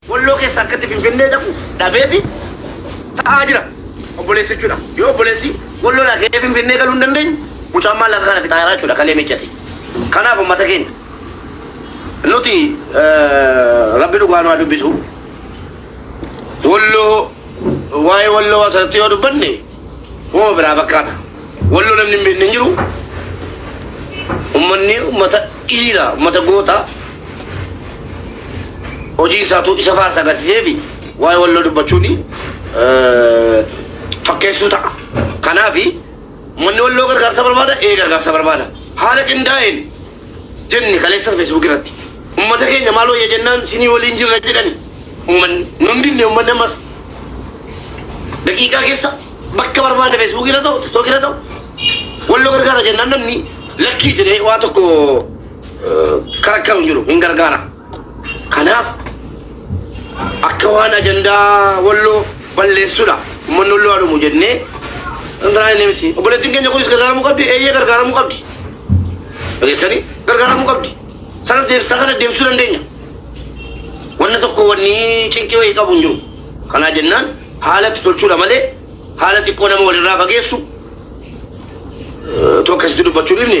Walloo keessa akkatti finfinnee dhaqu dhabeeti ta'aa jira. Obboleessi jechuudha. Yoo obboleessi walloo dhaqee finfinnee galuu hin dandeenye mucaan maallaqa kana fixaa jira jechuudha kalee miccate. Kanaaf uummata keenya nuti rabbi dhugaa nu haa dubbisu. Walloo waa'ee walloo asirratti yoo dubbanne Woma biraa fakkaata. Walloo namni hin beekne hin jiru. Ummanni ummata dhiira, ummata goota. Hojii isaatu isa faarsa agarsiisee fi waa'ee walloo dubbachuun eh, fakkeessuu ta'a. Kanaaf ummanni walloo gargaarsa barbaada, ee gargaarsa barbaada. Haala qindaa'een jenne kaleessa Facebook irratti. Ummata keenya maal wayya jennaan sinii waliin jirra jedhani. Ummanni nun dinne ummanni ammas daqiiqaa keessa bakka barbaade Facebook irra ta'u TikTok irra ta'u walloo gargaara jennaan namni lakkii jedhee waa tokko eh, karakkaru hin jiru hin gargaara. Kanaaf akka waan ajandaa walloo balleessudha. Uummanni walloo haa dhumu jennee kan biraa inni miti. Obboleettiin keenya kunis gargaaramuu qabdi. Eeyyee gargaaramuu qabdi. Dhageessanii gargaaramuu qabdi. Sanas deebisaa kana deemsisuu dandeenya. Wanna tokko wanni cinqii wayii qabu hin jiru. Kanaa jennaan haala itti tolchuudha malee haala xiqqoo nama walirraa fageessu tokko asitti dubbachuu dhibne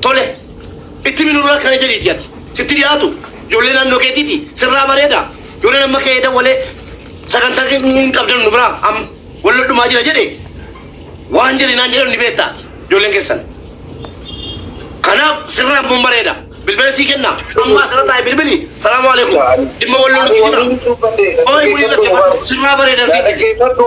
Tole, itti himi Nurul akkana jedhiiti ati. Sitti dhiyaatu ijoollee naannoo keetiiti sirraa bareeda. Ijoolleen amma ka'ee dawwalee sagantaa hin qabdan nu biraa amma wal lollumaa jira jedhe waan jedhe naan jedhan ni beekta ati ijoolleen keessan. Kanaaf sirraa mun bareeda. Bilbila sii kenna. Amma asirra taa'e bilbili. Salaamu alaikum. Dhimma wal lollu Ani sii wanni jira. inni dubbadhe Qoy waliin dhaggeeffadhu rakkifaatu dhugaadha. sirraa bareedan Yaa sii. dhaggeeffadhu.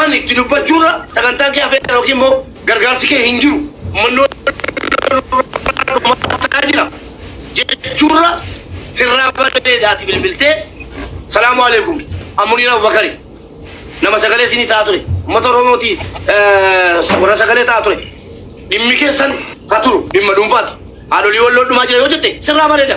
Ani itti dubbachuurra sagantaan kee hafeera ykn immoo gargaarsi kee hin jiru, ummanni Oromoo nurraa dhumaataa jira jechuurra sirraa bareeda ati bilbiltee Salaamu Aleekum jette. An Muniir Abubakari. Nama sagalee isinii ta'aa ture. Ummata Oromooti warra sagalee ta'aa ture. Dhimmi keessan ha turu dhimma dhuunfaati. Haadholii Walloo dhumaa jira yoo jette sirraa bareeda.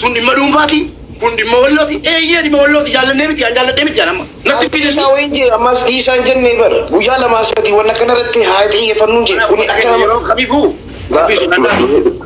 Sun dhimma dhuunfaati. Kun dhimma wallooti. Eeyyee dhimma wallooti. Jaallannee miti. An jaalladhee miti. An amma. Natti hin Dhiisaa fideessu. wayiin jee ammaas dhiisaa hin jennee bar. Guyyaa lamaa sadii wanna kana irratti haa xiyyeeffannuun jee. Kuni akka nama Yeroo kamiifuu rabbii sodaadhaa.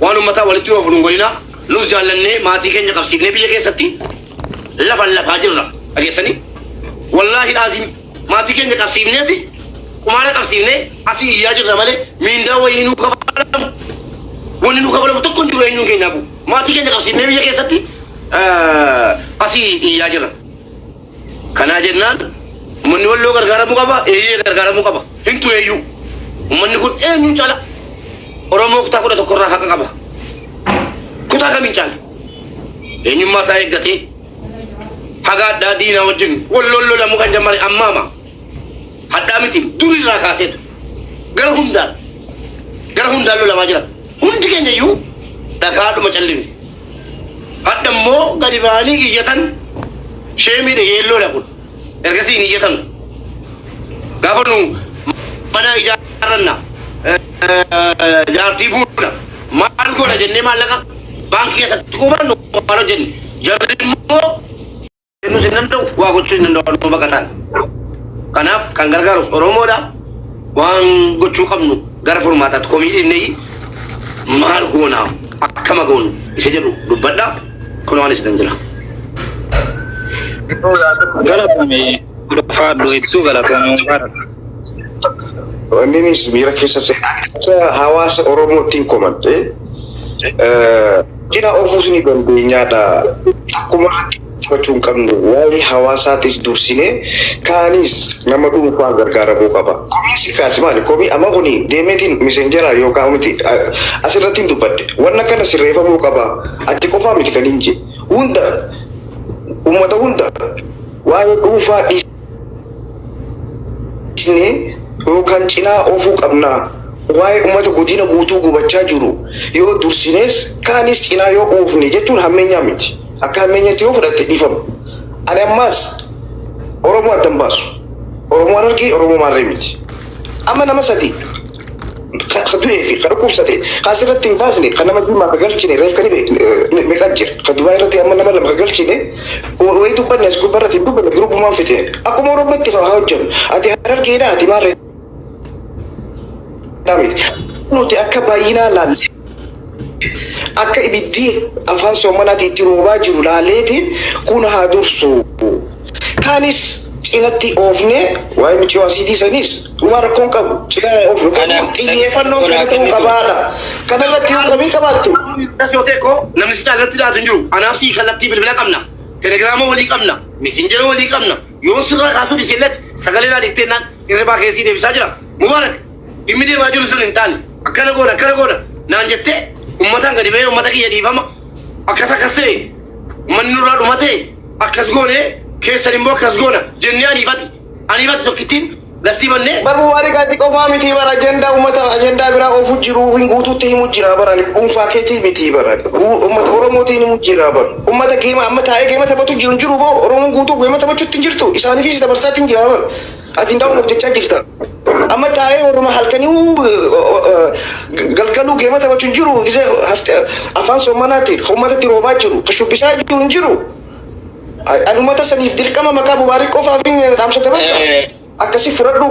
Waan ummataa walitti oofu nun godhinaa. Nus jaallannee maatii keenya qabsiifnee biyya keessatti lafa lafaa jirra. Dhageessanii? Wallaahi laaziim maatii keenya qabsiifneeti qumaara qabsiifnee asii iyyaa jirra malee miindaa wayii nuu kafalamu. Wanni nuu kafalamu tokko hin jiru eenyuun keenyaafuu. Maatii keenya qabsiifnee biyya keessatti asii iyyaa jirra. Kanaa jennaan ummanni Walloo gargaaramuu qaba, eeyyee gargaaramuu qaba. Hin tureeyyuu. Ummanni kun eenyuun caala Oromoo kutaa kudha tokko irraa haqa qaba. Kutaa kamiin caala? Eenyummaa isaa eeggatee haga addaa diinaa wajjin Walloon lolamuu kan jammare ammaama. Hadhaa miti dur irraa kaaseetu gara hundaan gara hundaan lolamaa jira. Hundi keenya iyyuu dhagaadhuma callifne. Hadha immoo gadi ba'anii iyyatan sheemiidha yeelloodha kun. Ergasii hin iyyatan. Gaafa nu mana ijaarranna eh, eh, jaartii fuuna maal goona jennee maallaqa baankii keessatti qubannu waan hojjenne. Jarri immoo kennuus hin danda'u waa gochuu hin danda'u nama baqataan kanaaf kan gargaarus oromoodha waan gochuu qabnu gara furmaataatti komii dhinnee maal goona akkama goonu isa jedhu dubbadha kun waan isinan jira Galatoomi. Ulfaadhu hedduu galatoomi. Mubaarak. Wanninis miira keessa seenaan akka hawaasa Oromoottiin komadhe dina ofuus ni dandeenyaadha. Akkuma irratti dubbachuu hin qabnu waa'ee hawaasaatis dursinee kaanis nama dhuunfaa gargaaramuu qaba. Komiin si kaase maali? Komii amma kuni deemeetiin misenjeraa yookaan miti asirratti hin dubbadhe. Wanna kana sirreeffamuu qaba. Ati qofaa miti kan hin jee. Hunda uummata hunda waa'ee dhuunfaa dhiis. cinee yookaan cinaa oofuu qabna. Waa'ee ummata godina guutuu gubachaa jiru yoo dursinees kaanis cinaa yoo oofne jechuun hammeenyaa miti. Akka hammeenyatti yoo fudhatte dhiifama. Ani ammaas Oromoo adda hin baasu. Oromoo Harargee, Oromoo Maarree miti. Amma nama sadii. ka ka du'ee fi ka dhukkubsate ka asirratti hin baasne ka nama diimaa ka galchine reef ka dhibe eh, meeqa jira ka dubaay irratti amma nama lama ka galchine wa- wayii dubbanne as gubbaa irratti hin dubbanne giruubumaan fixe akkuma oromootti ka hojjannu ati harargeedha ati maarree dhaabne nuti akka baay'inaa laalle akka ibiddi afaan soomanaatti itti roobaa jiru laaleetiin kun haa dursu. Kaanis cinatti oofnee waa'ee miciyoo asiidii saniis Dhugaa rakkoon qabu cina of Kana- garuu xiyyeeffannoon kana kana ta'uu kennitu. qabaadha. Kana irratti yoo komii qabaattu Das yoo ta'e koo namni si caalatti dhiyaatu hin jiru. Anaaf si kallattii bilbila qabna. Telegiraama walii qabna. Mesenjera walii qabna. Yoo sirraa kaasuu dhiise illee sagalee naa dhiiftee naan hirribaa kee sii deebisaa jira. Mubaarak dhimmi deemaa jiru sun hin taane. Akkana goona akkana goona naan jettee ummataan gadi ba'ee ummata kiyya dhiifama. Akkas akkas ta'e manni nurraa dhuma ta'e akkas goone keessan immoo akkas goona jennee ariifati. Halimatu tokkittiin lastii bannee. Bar Mubarik ati qofaa mitii bar ajandaa ummata ajandaa biraa ofu jiru hin guutuutti himu jira bar ani dhuunfaa keetii mitii bar ani Uu- ummata Oromootiin himu jira bar ummata geema amma taa'ee geema taphatu jiru hin jiru boo Oromoon guutuu geema taphachuutti hin jirtu isaaniifis dabarsaatti hin jira bar ati hin daawwan hojjechaa jirta amma taa'ee warruma halkanii uu- o- o- o- galgaluu geema taphachu hin jiru gisee hafte- afaan soommanaatiin ummatatti roobaa jiru ka shubbisaa jiru hin jiru An ummata saniif dirqama maqaa Mubaarik qofaaf dhaamsa dabarsa. Akkasii fudhadhu.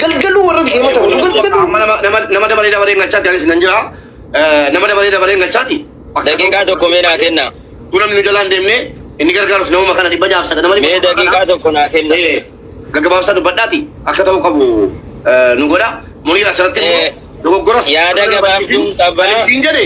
Galgaluu warra deema ta'u. Galgaluu. Amma nama nama nama dabaree dabaree galchaa danis nan jira. Nama dabaree dabaree galchaati. Daqiiqaa tokko mee naa kenna. Gunan nu jalaan deemne inni gargaaruf nama kana dhibba jaaf sagadama dhibba. Mee daqiiqaa tokko naa kenna. Gaggabaabsaa dubbadhaati akka ta'u qabu nu godha. Muniira asirratti dogoggoras. Yaada gabaabsuun qabaa. Siin jedhe.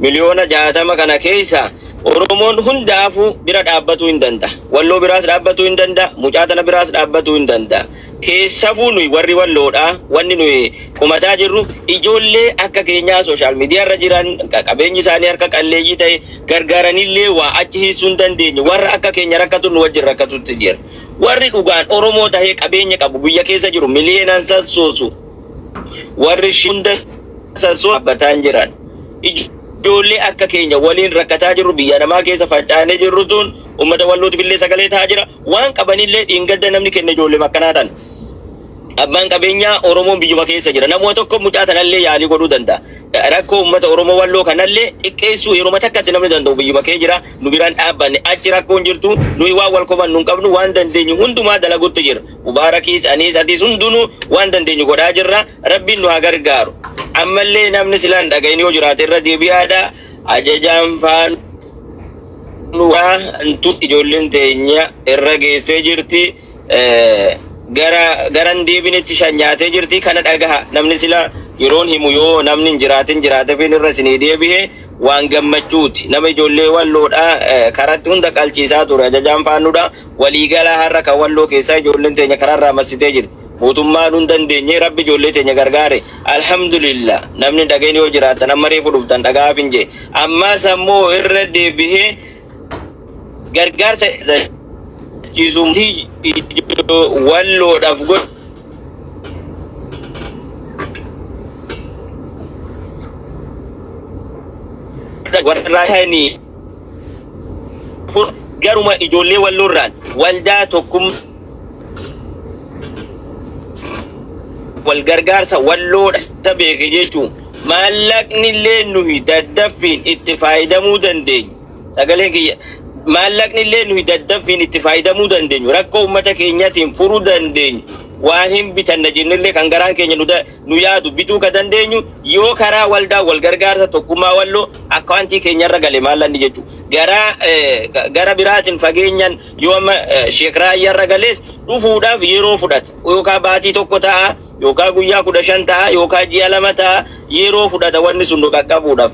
Miliyoona jaatama kana keessa Oromoon hundaafuu bira dhaabbatuu hin danda'a. Walloo biraas dhaabbatuu hin danda'a. Mucaa tana biraas dhaabbatuu hin danda'a. Keessafuu nuyi warri walloodhaa wanni nuyi kumataa jirru ijoollee akka keenyaa sooshaal miidiyaa irra jiran qabeenyi isaanii harka qalleeyyii ta'e gargaaranillee waa achi hiissuu hin dandeenye warra akka keenya rakkatu nu wajjin rakkatutti jira. Warri dhugaan Oromoo tahee qabeenya qabu biyya keessa jiru miliyeenaan sassoosu. Warri ishii hunda sassuu dhaabbataan jiran. Ijoollee akka keenya waliin rakkataa jirru biyya namaa keessa faca'anee jirru tun uummata wallootiif illee sagalee ta'aa jira. Waan qabanillee dhiingadda namni kenne ijoollee akkanaa tan. Abbaan qabeenyaa Oromoon biyyuma keessa jira. Namuma tokko mucaa tanallee yaalii godhuu danda'a. Rakkoo uummata Oromoo walloo kanallee xiqqeessuu yeruma takkatti namni danda'u biyyuma kee jira. Nu biraan dhaabbanne achi rakkoon jirtu nuyi waan wal komannu hin qabnu waan dandeenyu hundumaa dalagutti jira. Mubaarakiis aniis atiis hundunuu waan dandeenyu godhaa jirra rabbiin nu haa gargaaru ammallee namni silaa hin dhagahin yoo jiraate irra deebi'aadha ajajaan faanuu waa antu ijoolleen teenya irra geessee jirti eh, gara garan deebinetti shan nyaatee jirti kana dhagaha namni sila yeroon himu yoo namni hin jiraatin jiraatefiin irra isinii deebi'e waan gammachuuti nama ijoollee walloodha eh, karatti hunda qalchiisaa ture ajajaan faannuudha Waliigalaa har'a kan walloo keessaa ijoolleen teenya karaarraa massitee jirti. Mootummaan nun dandeenye rabbi ijoollee teenya gargaare. Alhamdulillah namni hin dhagahin yoo jiraattan amma reefu dhuftan dhaga'aafin jee. Ammaas ammoo irra deebihee gargaarsa ciisumti walloodhaaf godhu. Warra raayitaanii Kun garuma ijoollee walloorraan waldaa tokkum wal gargaarsa walloodha beeke jechuun maallaqni illee nuyi daddaffiin itti faayidamuu dandeenyu sagaleen kiyya maallaqni illee nuyi daddaffiin itti faayidamuu dandeenyu rakkoo uummata keenyatiin furuu dandeenyu waa hin bitanna jennellee kan garaan keenya nu da- nu yaadu bituu ka dandeenyu yoo karaa waldaa wal gargaarsa tokkummaa walloo akkawantii keenya irra gale maallanni jechu garaa gara biraatin fageenyan yoo amma sheek raayya irra galees dhufuudhaaf yeroo fudhata yookaa baatii tokko ta'a yookaa guyyaa kudha shan ta'a yookaa ji'a lama ta'a yeroo fudhata wanni sun nu qaqqabuudhaaf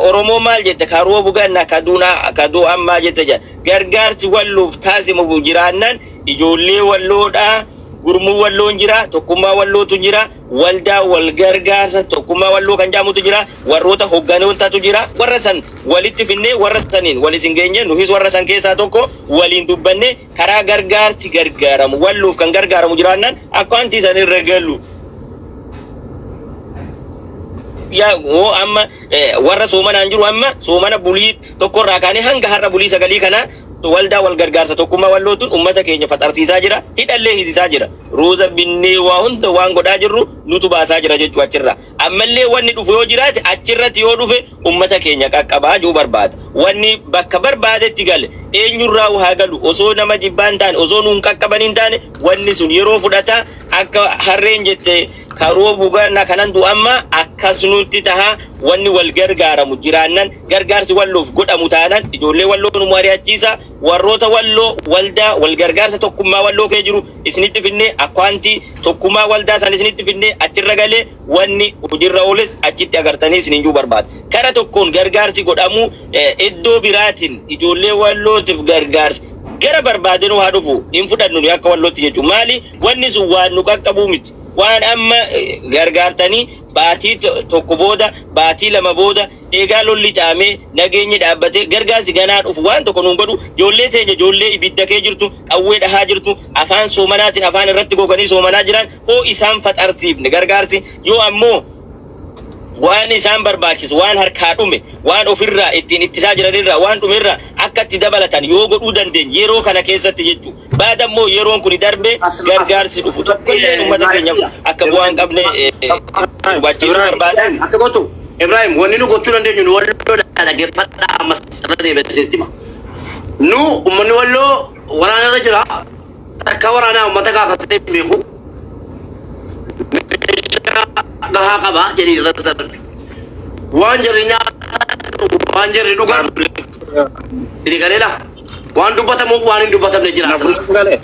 oromoo maal jette ka roobu ganna ka duuna ka duu ammaa jette jedha gargaarsi walluuf taasimufu jiraannan ijoollee walloodhaa Gurmuu Walloon jira, Tokkummaa Wallootu jira, Waldaa Walgargaarsa Tokkummaa Walloo kan jedhamutu jira, warroota hogganootatu jira. Warra san walitti finnee warra saniin wal isin geenyee nuhis warra san keessaa tokko waliin dubbannee karaa gargaarsi gargaaramu Walloof kan gargaaramu jiraannaan akkaantii san irra gallu. yaa hoo amma eh, warra soomanaan jiru amma soomana bulii tokkorraa kaanee hanga har'a bulii sagalii kana Waldaa wal gargaarsa tokkummaa walloo tun ummata keenya faxarsiisaa jira, hidhallee hisisaa jira. Ruuza binnee waa hunda waan godhaa jirru nutu baasaa jira jechuu achirraa. Ammallee wanni dhufu yoo jiraate achirratti yoo dhufe ummata keenya qaqqabaa jechuu barbaada. Wanni bakka barbaadetti gale eenyurraahu haa galu osoo nama jibbaa hin taane osoo nuun qaqqabanii hin taane wanni sun yeroo fudhata akka harreen jette ka roobu ganna kanan du'amma akkas nutti taha wanni wal gargaaramu jiraannan Gargaarsi Walloof godhamu taanaan ijoollee Walloo nu mari'achiisa. Warroota Walloo waldaa walgargaarsa tokkummaa Walloo kee jiru isinitti finnee akkawantii tokkumaa waldaa san isinitti finnee achirra galee wanni hojirra ooles achitti agartanii isinin juu barbaada. Kara tokkoon gargaarsi godhamu iddoo biraatin ijoollee Wallootif gargaarsi gara barbaadenuu haa dhufu hin fudhannu nuyi akka Wallootti jechu. Maali wanni sun waan nu qaqqabuu miti. Waan amma gargaartanii baatii tokko booda baatii lama booda Eegaa lolli caamee, nageenyi dhaabbatee, gargaarsi ganaa dhufu waan tokko nuun godhu, joollee teenya joollee ibidda kee jirtu, qawwee dhahaa jirtu, afaan soomanaatiin afaan irratti goganii soomanaa jiraan hoo isaan faxarsiifne gargaarsi yoo ammoo waan isaan barbaachisu waan harkaa dhume, waan of irraa ittiin ittisaa jiran irraa waan dhume irraa akka itti dabalatan yoo godhuu dandeenye yeroo kana keessatti jechu. Baada immoo yeroon kuni darbee gargaarsi dhufu tokko illee ummata keenya akka bu'aa hin qabne hubachiisuu barbaada. Akka gootu Ibrahim wanni nu gochuu dandeenyu nu walloo dhaggeeffadhaa ammas irra deebi'ee isinitti hima. Nu ummanni walloo waraana irra jira takka waraanaa ummata gaafatee hin beeku. Meeshaa gahaa qaba jedhii irra darbe. Waan jarri nyaatan waan jarri dhugan itti galeela. Waan dubbatamuuf waan hin dubbatamne jira Naf asirra. naf galee.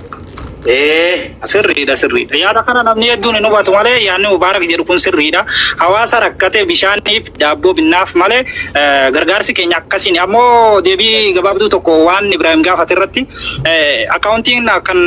Ee. Sirriidha sirriidha. Yaada kana namni hedduun hin hubatu malee yaadni Mubaarak jedhu kun sirriidha. Hawaasa rakkate bishaaniif daabboo binnaaf malee eh, gargaarsi keenya akkasiin ammoo deebii gabaabduu tokko waan Ibraahim gaafate irratti eh, akkaawuntiin kan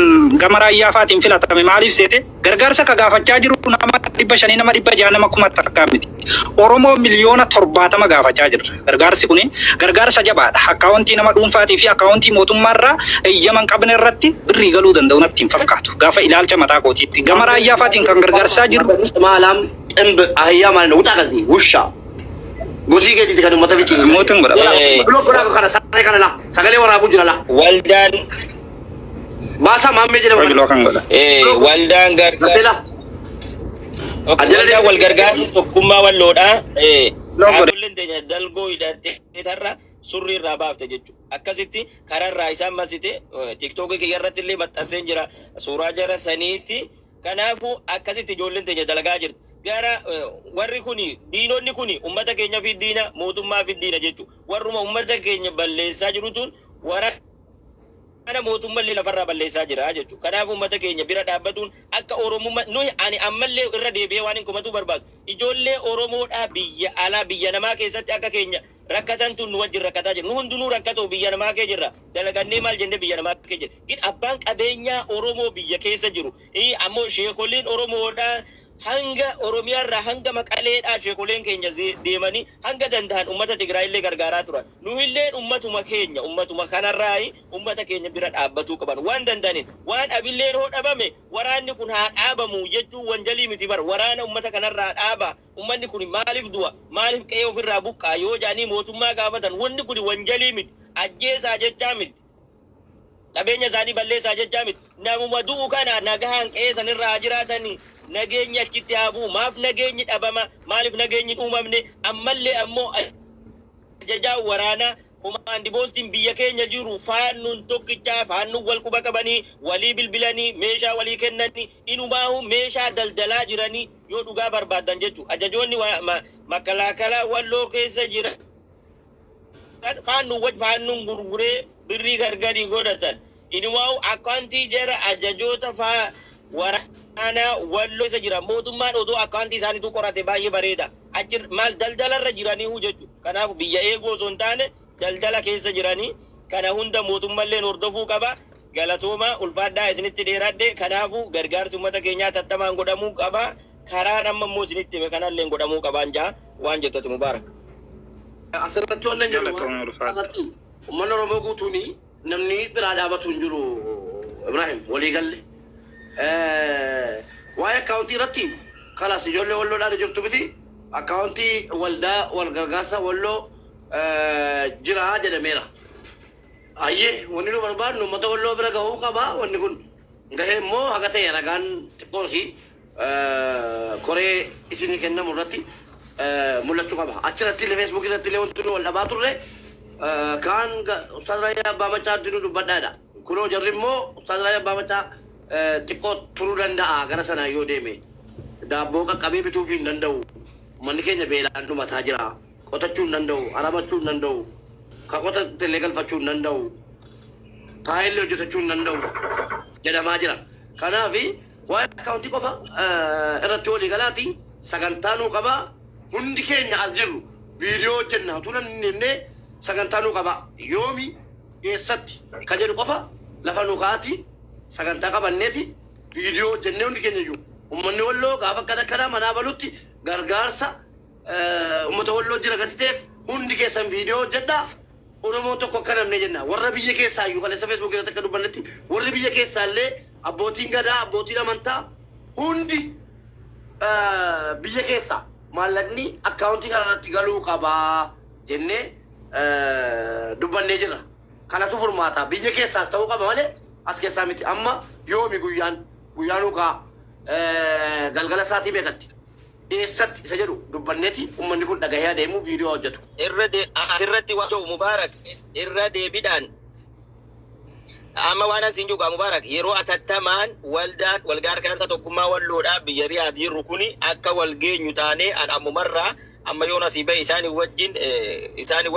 gama raayyaa faatiin filatame maaliif seete? Gargaarsa ka gaafachaa jiru nama 500 nama 600 nama kuma takkaa miti. Oromoo miliyoona 70 gaafachaa jirra. Gargaarsi kuni gargaarsa jabaadha. Akkaawontii nama dhuunfaatii fi akkaawontii mootummaa irraa eyyama hin qabne irratti birrii galuu danda'u natti hin fakkaatu. Gaafa ilaalcha mataa kootiitti. Gama Raayyaa faatiin kan gargaarsaa jirru. Qimaalam ximb ahiyyaa maalina wuxaa kasii wushaa gosii keetiiti kan ummata ficii. Mootin godha. Blog godhaa kana saree kana la sagalee waraabuu jira la. Waldaan Baasaa maammee jedhamu. Qoy biloo kan godha. Eh, waldaan gargaar Tapeelaa. Okay, Ajjala waldaan wal gargaarsa tokkummaa walloodha. Eh, Loo godhe. dhaabbileen teenya dalgoo hidhattee tarra surrii irraa baafte jechuudha. Akkasitti karaa irraa isaan masite eh, tiktookii kiyya irratti illee maxxanseen jira suuraa jara saniitti. Kanaafuu akkasitti ijoolleen teenya dalagaa jirti. Gara eh, warri kuni diinonni kuni uummata keenya fi diina mootummaa fi diina jechuudha. Warruma uummata keenya balleessaa jirutuun wara kana mootummallee lafarraa balleessaa jira jechuudha. Kanaaf uummata keenya bira dhaabbatuun akka Oromumma nuyi ani ammallee irra deebi'ee waanin komatuu barbaadu ijoollee Oromoodhaa biyya alaa biyya namaa keessatti akka keenya rakkatantu nu wajjin rakkataa jira. Nu hundinuu rakkatoo biyya namaa kee jirra dalagannee maal jennee biyya namaa kee jirra. Gin abbaan qabeenyaa Oromoo biyya keessa jiru Ii ammoo sheekolleen Oromoodhaa hanga Oromiyaarraa hanga Maqaleedhaa sheekoleen keenya deemanii hanga danda'an ummata Tigraayillee gargaaraa turan. Nuhilleen ummatuma keenya ummatuma kanarraayi ummata keenya bira dhaabbatuu qaban waan danda'aniin. Waan abilleen hoo dhabame waraanni kun haa dhaabamu jechuun wanjalii miti bar waraana ummata kanarraa dhaabaa ummanni kuni maalif du'a maalif qe'ee ofirraa buqqa'a yoo jedhanii mootummaa gaafatan wanni kuni wanjalii miti ajjeesaa jechaa miti. Qabeenya isaanii balleessaa jechaa miti. Namuma du'u kana nagahaan qe'ee sana irra haa jiraatan, nageenyi achitti haa bu'u. Maaf nageenyi dhabama? Maaliif nageenyi hin uumamne? Ammallee ammoo ajajaan waraanaa, komaandi poostiin biyya keenya jiru Faannoon tokkicha, Faannoon wal quba qabanii, walii bilbilanii, meeshaa walii kennanii, inumaahuu meeshaa daldalaa jiranii yoo dhugaa barbaaddan jechuudha. Ajajoonni Makalaakalaa Walloo keessa jiran faannu waj faannuun gurguree birrii gargarii godhatan inumaa'u akkaantii jara ajajoota faa waraanaa walloo isa jira mootummaan odoo akkaantii isaaniitu qorate baay'ee bareeda achi maal daldala irra jiranii huu jechu kanaaf biyya eeguu osoo hin taane daldala keessa jiranii kana hunda mootummalleen hordofuu qaba Galatoomaa, ulfaadhaa isinitti dheeraadhe. Kanaafuu, gargaarsi ummata keenyaa atattamaan godhamuu qaba. Karaan amma immoo isinitti hime kanalleen godhamuu qabaan ja'a. Waan jettu ati Mubaarak. Asirratti wannan jedhu Galatoomi ulfaadhu. irratti ummanni Oromoo guutuun namni biraa dhaabatu hin jiru Ibrahim walii galle. Eh, Waa'ee akkaawuntii irratti kalaas ijoollee walloodhaan jirtu miti akkaawuntii waldaa wal gargaarsa walloo eh, jira jedhameera. Hayyee wanni nu barbaadnu ummata walloo bira gahuu qaba wanni kun gahe immoo haga ta'e ragaan xiqqoosi koree isinii kennamu irratti mul'achuu qaba achirratti illee feesbuukii irratti illee wanti nu wal dhabaa turre kaan ustaaz Raayyaa Abbaa Macaa itti nu dubbadhaa jedha kunoo jarri immoo ustaaz Raayyaa Abbaa Macaa xiqqoo turuu danda'a gara sanaa yoo deeme daabboo qaqqabee bituuf hin danda'u manni keenya beelaan dhumataa jira. Qotachuu hin danda'u, aramachuu hin danda'u, ka qotate illee galfachuu hin danda'u, taa'ee illee hojjetachuu hin danda'u jedhamaa jira. Kanaaf waa'ee akkaawuntii qofa irratti walii galaati sagantaa nuu qabaa. Hundi keenya as jirru viidiyoo hojjenna utuu nan hin himnee sagantaa nuu qabaa. Yoomi, eessatti ka jedhu qofa lafa nuu kaa'aati sagantaa qabanneeti viidiyoo hojjennee hundi keenya iyyuu ummanni Walloo gaafa akkana akkanaa manaa balutti gargaarsa, eh, ummata walloo jira gati ta'eef hundi keessan viidiyoo hojjedha oromoon tokko akka namne jenna warra biyya keessaa iyyuu kaleessa feesbuuk irratti akka dubbannetti warri biyya keessaa illee abbootiin gadaa abbootiin amantaa hundi eh, biyya keessaa maallaqni akkaawuntii kana irratti galuu qabaa jennee eh, dubbannee jirra kanatu furmaata biyya keessaas ta'uu qaba malee as keessaa miti amma yoomi guyyaan guyyaan ukaa eh, galgala isaatii beekatti eessatti isa jedhu dubbanneti ummanni kun dhagahee adeemu video haa hojjatu. Irra de asirratti waan jedhu Mubaarak irra deebidhaan amma waan ansiin jugaa Mubaarak yeroo atattamaan waldaan wal gargaarsa tokkummaa walloodhaa biyya Riyaad jirru kuni akka wal geenyu taanee an ammumarraa amma yoon asii ba'e isaanii wajjin isaanii